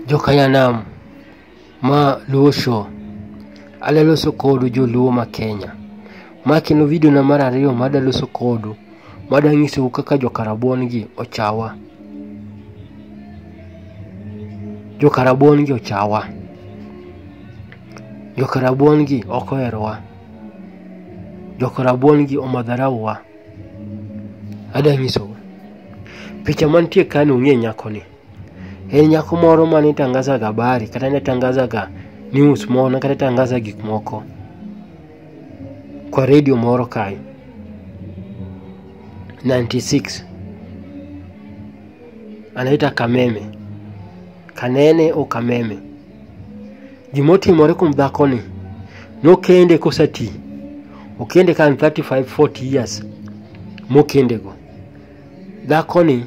Jokanyanam ma Luo Show. Adaloso kodu joluo ma Kenya. Ma kendo video na mar ariyo ma adaloso kodu ma adanyisou kaka jokarabuon gi ochawa. Jokarabuon gi ochawa. Jokarabuon gi ok oherowa. Jokarabuon gi omadharauwa. Adanyisou. Picha mantie kani ung'e nyakoni. En nyako moro ma ne tangazaga habari kata ne tangazaga news moro kata tangaza gik moko kwa redio moro kae 96 anaita Kameme Kanene o Kameme. Gimotimore kuom dhakoni nokende kosati okende kan 35 40 years mokendego dhakoni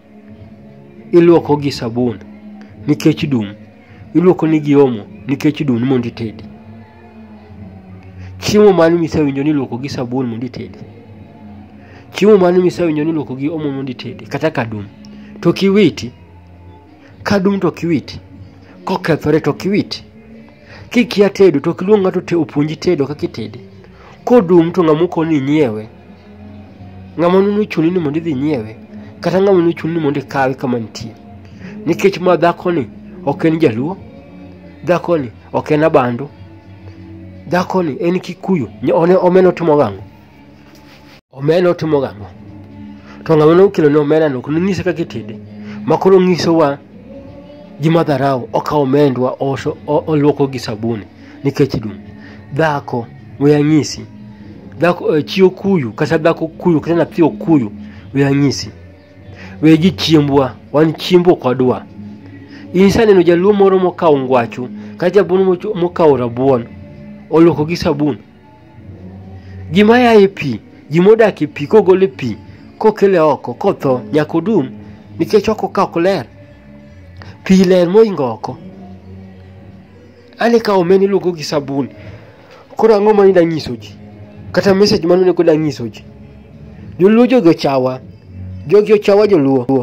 ilwoko gi sabun nikech dum ilwoko ni gi omo nikech dum ni mondo itedi chiemo mane misewinjo ni ilwoko gi sabun mondo itedi chiemo mane misewinjo ni ilwoko gi omo mondo itedi kata kadum to kiwiti kadum to kiwiti kokethore to kiwiti Kikia tedo to ok iluong ng'ato te opuonji tedo kaka itede. Kodum to ng'ama okoni inyiewe. Ng'ama nuno chuni ni mondo idhi inyiewe. Kata ng'ama nuno chuni ni mondo ikawe kama nitie. Nikech ma dhakoni ok en jaluo. Dhakoni ok en abandu. Dhakoni en kikuyu. Nya- one- Omena otimo gang'o? Omena otimo gang'o? To ng'ama ne okelo ne omena no kendo nyise kaka itede. Ma koro nyisowa ji ma dharau okawo omendwa oso o- oluoko gi sabuni nikech dum. Dhako we anyisi. Dhako eh, chi okuyu kata dhako okuyu kata nyathi okuyu we anyisi. We ji chiembwa wan chiemb ok wadwa. In saneno jaluo moro mokawo ngwacho kata jabuon mocho- mokawo rabuon oluoko gi sabun Gima ya e pi, gima odak e pi kogol e pi kokele oko kotho nyaka odum nikech oko ka ok ler. Pi ler moingo oko. Ane ka omena iluoko gi sabun. Koro ang'o ma nida nyiso ji? Kata message mane onego da nyiso ji? Joluo jogi ochawa. Jogi ochawa joluo.